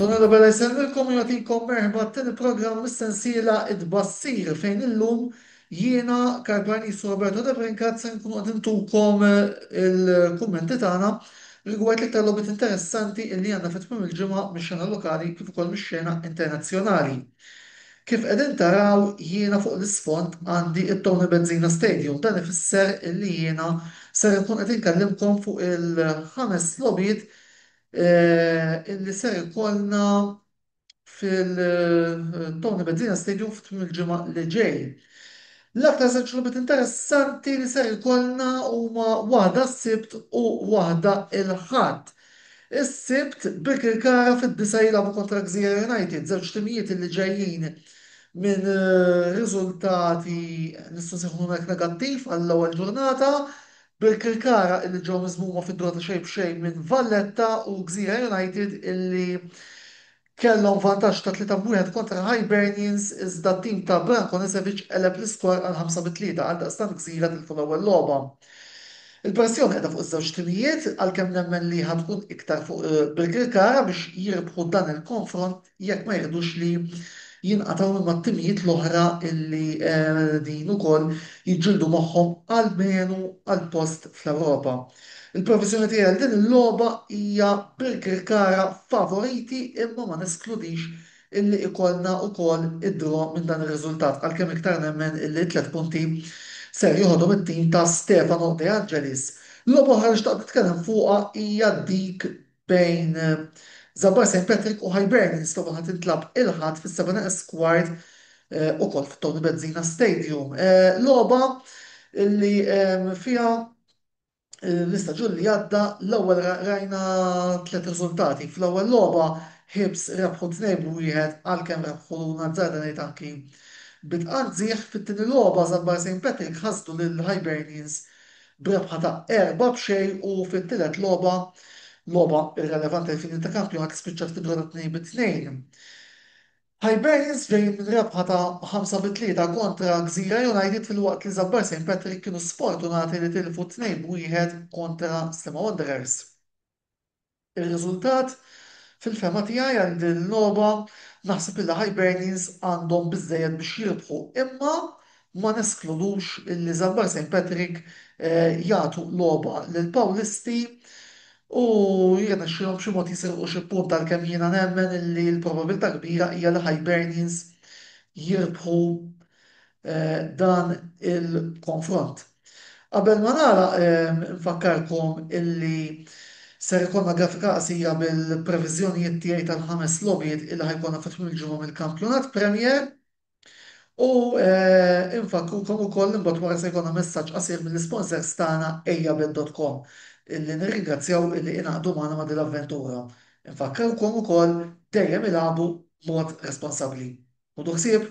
Tony Robella jsellmilkom u jagħtikom merħba għat-tieni programm mis-sensiela It-Tbassir fejn illum jiena, Karl Parnis u Roberto Debrincat ser inkunu qed intukom il-kummenti tagħna rigward l-iktar logħbiet interessanti illi għandna fi tmiem il-ġimgħa mix-xena lokali kif ukoll mix-xena internazzjonali. Kif qegħdin taraw jiena fuq l-isfond għandi t-Tony Bezzina Stadium. Dan ifisser illi jiena ser inkun qed inkellimkom fuq il-ħames logħbiet illi ser ikollna fil-Tony Bezzina Stadium fi tmiem il-ġimgħa li ġej. L-aktar żewġ logħbiet interessanti li ser ikollna huma waħda s-Sibt u waħda l-Ħadd. Is-Sibt, Birkirkara fid-disgħa jilagħbu kontra Gżira United, żewġ timijiet illi ġejjin minn riżultati nistgħu nsejħulhom hekk negattiv għall-ewwel ġurnata Birkirkara illi ġew miżmuma fid-dura ta' xejn b'xejn minn Valletta u Gżira United illi kellhom vantaġġ ta' tlieta b'wieħed kontra Hibernians iżda t-tim ta' Branko Nesevic qeleb l-iskor għal ħamsa bi tlieta għaldaqstant Gżira tilfu l-ewwel logħba. Il-pressjoni qiegħda fuq iż-żewġ timijiet għalkemm nemmen li ħa tkun iktar fuq Birkirkara biex jirbħu dan il-konfront. jekk ma jridux li jinqatgħu minn mat-timijiet l-oħra li qegħdin ukoll jiġġieldu magħhom almenu għal post fl-Ewropa. Il-proviżjoni tiegħi għal din il-logħba hija Birkirkara favoriti imma ma neskludix illi ikollna ukoll id-draw minn dan ir-riżultat għalkemm iktar nemmen illi t-tliet punti ser joħodhom it-tim ta' Stefano De Angelis. Logħba oħra li xtaqt nitkellem fuqha hija dik bejn Żabbar St. Patrick u Hibernians ta' waħda tintlagħab il-Ħadd fis-Savannah Esquard ukoll f'Tony Bezzina Stadium. Logħba li fiha l-istaġun li għadda l-ewwel rajna tliet riżultati. Fl-ewwel logħba Hibs rebħu tnejn b' wieħed għalkemm rebħu l-Azzarda ngħid anki bi tqanżiħ. Fit-tieni logħba Żabbar St. Patrick ħasdu lil Hibernians b'rebħa ta' erbgħa b'xejn u fit-tielet logħba, logħba irrelevanti għall-finijiet ta' kampjonat li spiċċat fi draw ta' tnejn bi tnejn, Hibernians ġejjin minn rebħa ta' ħamsa bi tlieta kontra Gżira United filwaqt li Żabbar Saint Patrick kienu sfortunati li tilfu tnejn b'wieħed kontra Sliema Wanderers. Ir-riżultat? Fil-fehma tiegħi għal din il-logħba, naħseb li l-Hibernians għandhom biżżejjed biex jirbħu imma ma neskludux illi Żambar Saint Patrick jagħtu logħba lill-Pawlisti u jirnexxilhom b'xi mod jisirqu xi punt għalkemm jiena nemmen illi l-probabilità kbira hija li Hibernians jirbħu dan il-konfront. Qabel ma nagħlaq infakkarkom illi ser ikollna grafika qasira bil-previżjonijiet tiegħi tal-ħames logħbiet illi ħa jkollna fi tmiem il-ġimgħa mill-kampjonat Premier u infakkrukom ukoll li mbagħad wara se jkollna messaġġ qasir mill-isponsors tagħna ejjabet.com illi nirringrazzjaw illi ingħaqdu magħna ma' din l-avventura. Infakkarkom ukoll dejjem ilagħbu b'mod responsabbli. Ħudu ħsieb!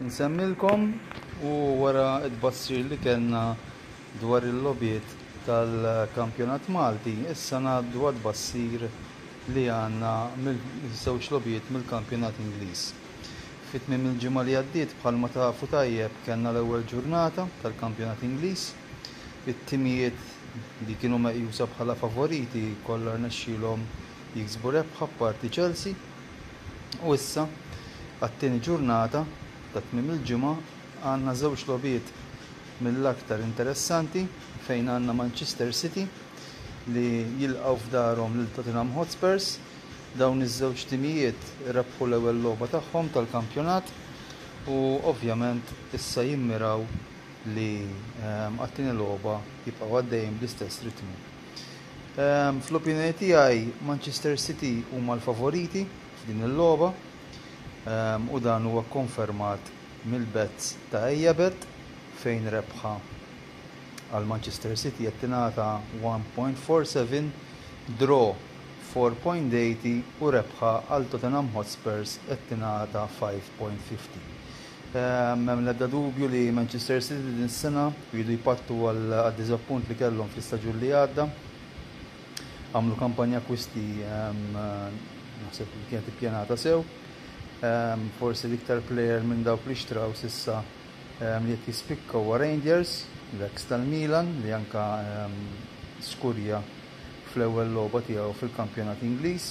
Insemmilkom u wara t-tbassir li kellna dwar il-logħbiet tal-kampjonat Malti, issa ngħaddu għat-tbassir li għandna mill-żewġ logħbiet mill-kampjonat Ingliż. Fi tmiem il-ġimgħa li għaddiet bħalma tafu tajjeb kellna l-ewwel ġurnata tal-kampjonat Ingliż. It-timijiet li kienu meqjusa bħala favoriti kollha rnexxielhom jiksbu rebħa apparti Chelsea. U issa, għat-tieni ġurnata ta' tmiem il-ġimgħa, għandna żewġ logħbiet mill-aktar interessanti fejn għandna Manchester City li jilqgħu f'darhom lil Tottenham Hotspurs. Dawn iż-żewġ timijiet rebħu l-ewwel logħba tagħhom tal-kampjonat u ovvjament issa jimmiraw li għat-tieni logħba jibqgħu għaddejjin bl-istess ritmu. Fl-opinjoni tiegħi Manchester City huma l-favoriti f'din il-logħba u dan huwa kkonfermat mill-bets ta' Ejjabet fejn rebħa għal Manchester City qed tingħata 1.47, draw 4.80 u rebħa għal Tottenham Hotspurs qed tingħata 5.50. M'hemm l-ebda dubju li Manchester City din is-sena jridu jpattu għad-diżappunt li kellhom fl-istaġun li għadda. Għamlu kampanja akkwisti naħseb li kienet ippjanata sew. Forsi l-iktar plejer minn dawk li xtraw s'issa li qed jispikka huwa Reinders, l-eks tal-Milan, li anke skurja fl-ewwel logħba tiegħu fil-kampjonat Ingliż.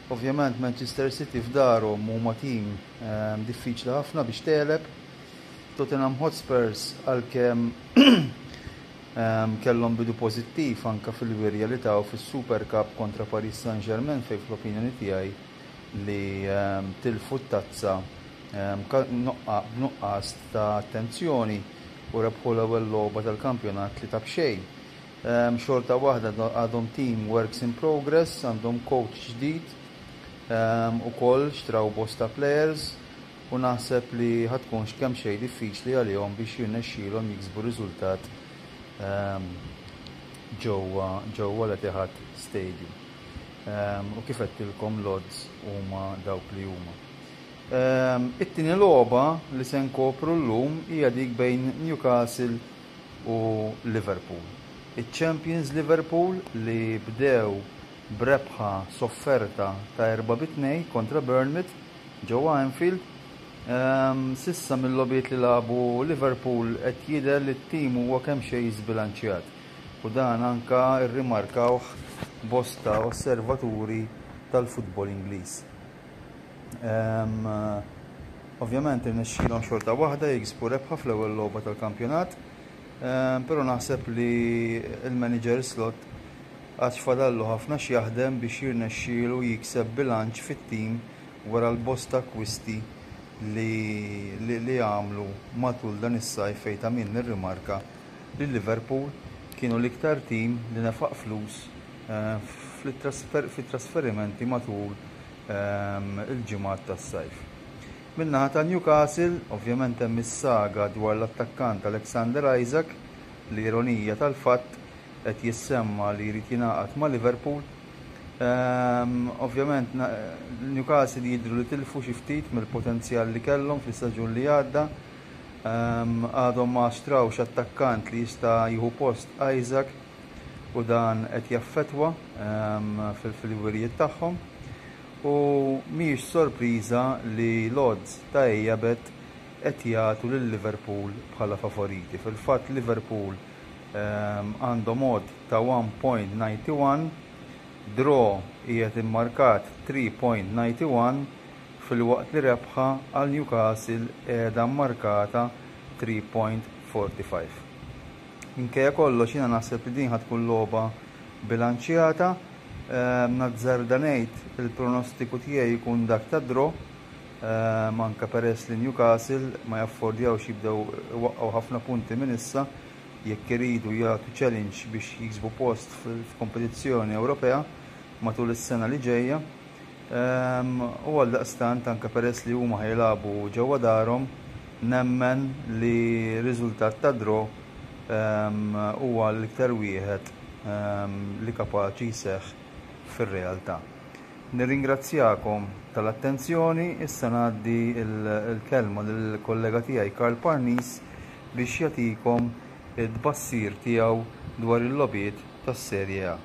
Ovvjament Manchester City f'darhom huma tim diffiċli ħafna biex tegħleb. Tottenham Hotspurs għalkemm kellhom bidu pożittiv anke fil-wirja li taw fis-Super Cup kontra Paris Saint-Germain fejn fl-opinjoni tiegħi li tilfu t-tazza b'nuqqas ta' attenzjoni u rebħu l-ewwel logħba tal-kampjonat li ta' b'xejn. Xorta waħda għadhom tim works in progress, għandhom coach ġdid ukoll, xtraw bosta players u naħseb li ħa tkun x'kemm xejn diffiċli għalihom biex jirnexxilhom jiksbu riżultat ġewwa l-Etihad Stadium. U kif għedtilkom l-odds huma dawk li huma. It-tieni logħba li se nkopru llum hija dik bejn Newcastle u Liverpool. Iċ-champions Liverpool li bdew b'rebħa sofferta ta' erba' bi tnejn kontra Bournemouth ġewwa Anfield, s'issa mil-logħbiet li lagħbu Liverpool qed jidher li t-tim huwa kemxejn żbilanċjat u dan anke rrimarkawh bosta osservaturi tal-futbol Ingliż. Ovvjament irnexxielhom xorta waħda jiksbu rebħa fl-ewwel logħba tal-kampjonat, però naħseb li l-manager Slot għad fadallu ħafna x'jaħdem biex jirnexxielu jikseb bilanċ fit-tim wara l-bosta akkwisti li għamlu matul dan is-sajf fejn ta' min nirrimarka li Liverpool kienu l-iktar tim li nefaq flus fit-trasferimenti matul il-ġimgħat tas-sajf. Min-naħa ta' Newcastle, ovvjament hemm is-saga dwar l-attakkant Alexander Isak li ironija tal-fatt qed jissemma li jrid jingħaqad ma' Liverpool. Ovvjament Newcastle jidhru li tilfu xi ftit mill-potenzjal li kellhom fis-staġun li għadda. Għadhom ma xtrawx attakkant li jista' jieħu post Isak. u dan qed jaffettwa fil-wirjiet tagħhom u mhijiex sorpriża li l-odds ta' Ejabet qed jagħtu lil Liverpool bħala favoriti. Fil-fatt Liverpool għandhom odd ta' 1.91, draw qiegħed immarkat 3.91 filwaqt li rebħa għal Newcastle qiegħda mmarkata 3.45. Minkejja kollox jiena naħseb li din ħa tkun logħba bilanċjata. Nazzarda ngħid li l-pronostiku tiegħi jkun dak ta' draw, anke peress li Newcastle ma jaffordjawx jibdew iwaqqgħu ħafna punti minn issa jekk iridu jagħtu challenge biex jiksbu post f'kompetizzjoni Ewropea matul is-sena li ġejja. U għaldaqstant, anke peress li huma ħajilagħbu ġewwa darhom, nemmen li riżultat ta' draw huwa l-iktar wieħed li kapaċi jseħħ fir-realtà. Nirringrazzjakom tal-attenzjoni, issa ngħaddi l-kelma lill-kollega tiegħi Karl Parnis biex jagħtikom it-tbassir tiegħu dwar il-logħbiet tas-Serie A.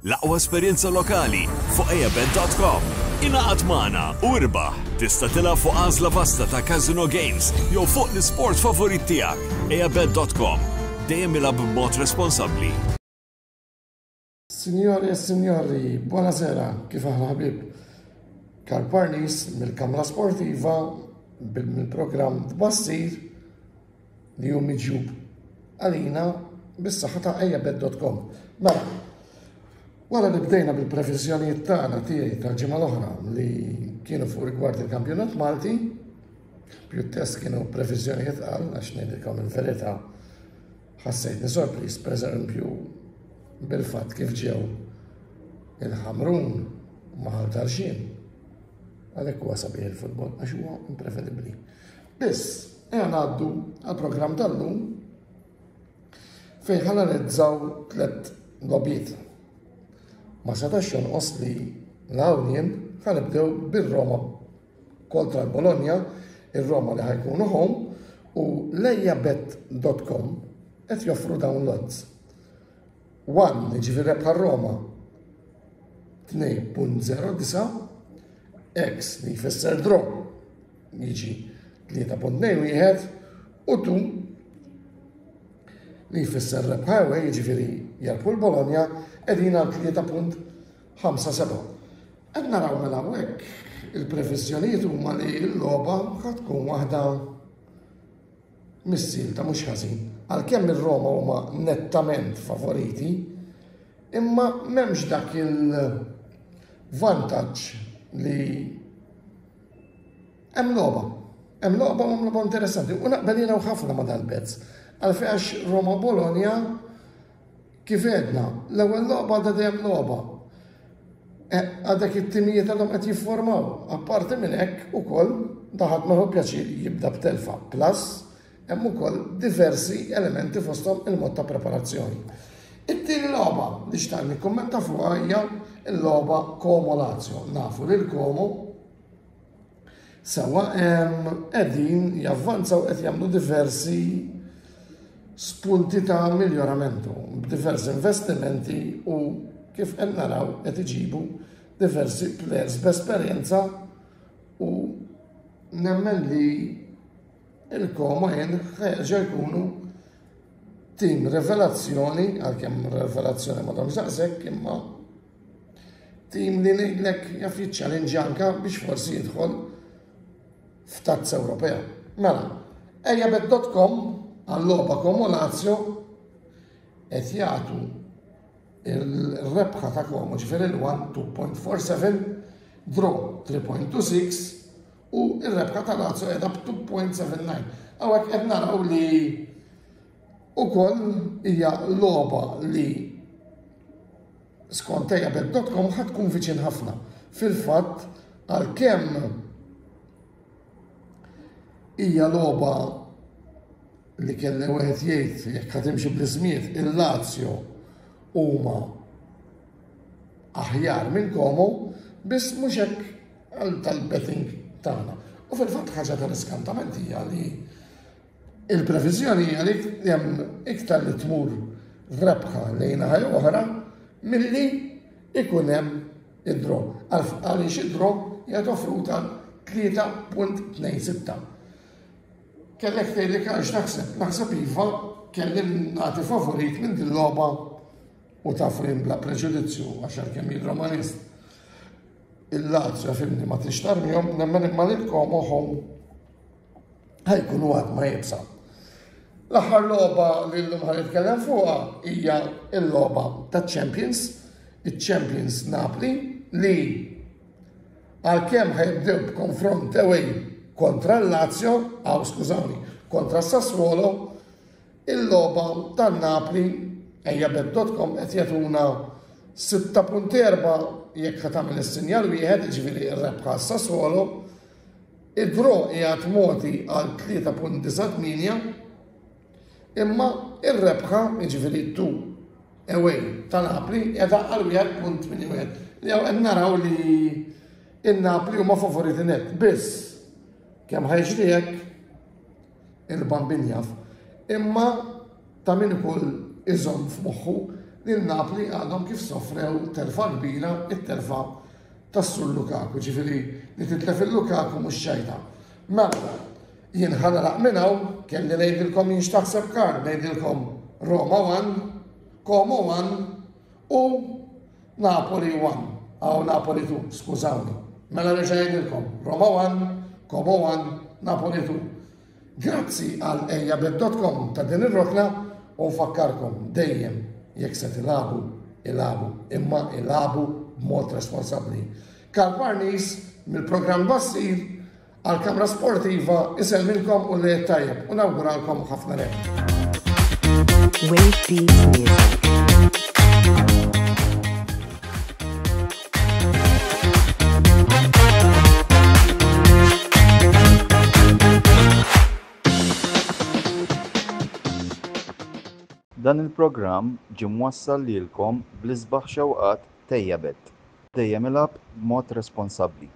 L-aqwa esperjenza lokali fuq eabet.com. Ingħaqad magħna u irbaħ. Tista' tilgħab fuq għażla vasta ta' Casino Games jew fuq l-isport favorit tiegħek. eabet.com. Dejjem ilgħab b'mod responsabbli. Sinjori e sinjori, buona sera, kif aħna ħbib? Karl Parnis mill-Kamra Sportiva mill-programm Tbassir li hu miġjub għalina bis-saħħa ta' ejjabed.com. Mela, wara li bdejna bil-previżjonijiet tagħna tiegħi tal-ġimgħa l-oħra li kienu fuq rigward il-kampjonat Malti, pjuttost kienu previżjonijiet għal għax ngħidilkom il-verità Ħassejtni sorpriż pereżempju bil-fatt kif ġew il-Ħamrun ma' Ħal Tarxien. Għalhekk huwa sabiħ il-futbol għax huwa imprevedibbli. Biss, ejja ngħaddu għall-programm tal-lum fejn ħanalizzaw tliet lobiet. Ma setax jonqos li l-Awlien ħanibdew bir-Roma kontra l-Bologna, ir-Roma li ħa jkunu home u lejjabet.com qed joffru dawn l-odds. 1 jiġifieri rebħa Roma 2.09 X li jfisser draw jiġi 3.91 u 2 li jfisser rebħa away jiġifieri jarbħu l-Bologna qegħdin għal 3.91 Ħamsa seba'. Qed naraw mela hawnhekk il-previżjonijiet huma li l-logħba ħad tkun waħda missil ta' mhux ħażin. Għalkemm ir-Roma huma nettament favoriti, imma m'hemmx dak il-vantaġġ li hemm logħba. Hemm logħba hemm logħba interessanti u naqbel jiena ħafna ma' dal-pezz. Għalfejn għax Roma Bologna Kif għedna, l-ewwel logħba għadha dejjem logħba. Għadek it-timijiet għadhom qed jifformaw. Apparti minn hekk ukoll daħat meħu pjaċir jibda b'telfa. Plus, hemm ukoll diversi elementi fosthom il-mod ta' preparazzjoni. It-tieni logħba li xtaq nikkummenta fuqha hija l-logħba Komo Lazio. Nafu li l-Komo Sewa hemm qegħdin javvanzaw qed jagħmlu diversi spunti ta' miljoramentu, diversi investimenti u kif qed naraw qed iġibu diversi players b'esperjenza u nemmen li il-koma jien ħeġa jkunu tim revelazzjoni, għalkemm revelazzjoni ma domx daqshekk imma Tim li ngħidlek jaf jiċċallenġja anke biex forsi jidħol f'tazza Ewropea. Mela, ejjabet.com għall-logħba Como Lazio qed jagħtu il-rebħa ta' Como ġifier il-1 2.47, draw 3.26 u il-rebħa ta' Lazio qiegħda b'2.79. Hawnhekk qed naraw li Ukoll hija logħba li skont Eyabet.com ħa tkun viċin ħafna. Fil-fatt, għalkemm hija logħba li kellha wieħed jgħid jekk ħad imxi bl-ismiet il-Lazio huma aħjar minn komu biss mhux hekk għal tal-betting tagħna. U fil-fatt ħaġa tal-iskantament hija li Il-previżjoni hija li hemm iktar li tmur rebħa lejn naħa jew oħra milli ikun hemm id-draw. Għaliex id-draw hija offruta 3.26. Kellek tgħid li għax naħseb, naħseb iva kelli nagħti favorit minn din logħba u taf li bla preġudizzju għax kemm jien Romanist. Il-Lazio fimni ma tixtarmihom nemmen imma lilkom oħom ħa jkunu għadma jibsa. L-aħħar logħba li llum ħa nitkellem fuqha hija l-logħba taċ-Champions, iċ-Champions Napoli li għalkemm ħajbdew b'konfront ewwel kontra l-Lazio, għaw skużawni, kontra Sassuolo, il-logħba tan-Napoli ejja bed.com qed jagħtuna 6.4 jekk ħatamil is-sinjal wieħed, ġifieri r-rebħa Sassuolo, Id-draw qiegħed mogħti għal 3.98 imma r-rebħa, jiġifieri d-du away ta' Napli qiegħda għal 1.81. Jew qed naraw li in-Napli huma favoriti net biss kemm ħajġri hekk il-bambin jaf, imma ta' min ukoll iżomm f'moħħu li l-Napli għadhom kif sofrew telfa kbira it-telfa tas-Sur Lukaku, ġifieri li titlef il-Lukaku mhux xejta. Mela, jien ħanaraq minn hawn kelli ngħidilkom jien x'taħseb kar, ngħidilkom Roma 1, Como 1, U Napoli one, aw Napoli two, skużawni. Mela nerġa' ngħidilkom, Roma one, Como one, Napoli two. Grazzi għal ejjabet.com ta' din ir-rokna u nfakkarkom dejjem jekk se tilagħbu, ilagħbu, imma ilagħbu b'mod responsabbli. Karl Parnis mill-programm Bassil Għall-kamra sportiva isellmilkom u l-Għid tajjeb u nawguralkom ħafna leb. Dan il-programm ġie mwassal lilkom bl-isbaħ xewqat Tejjebet. Dejjem ilgħab b'mod responsabbli.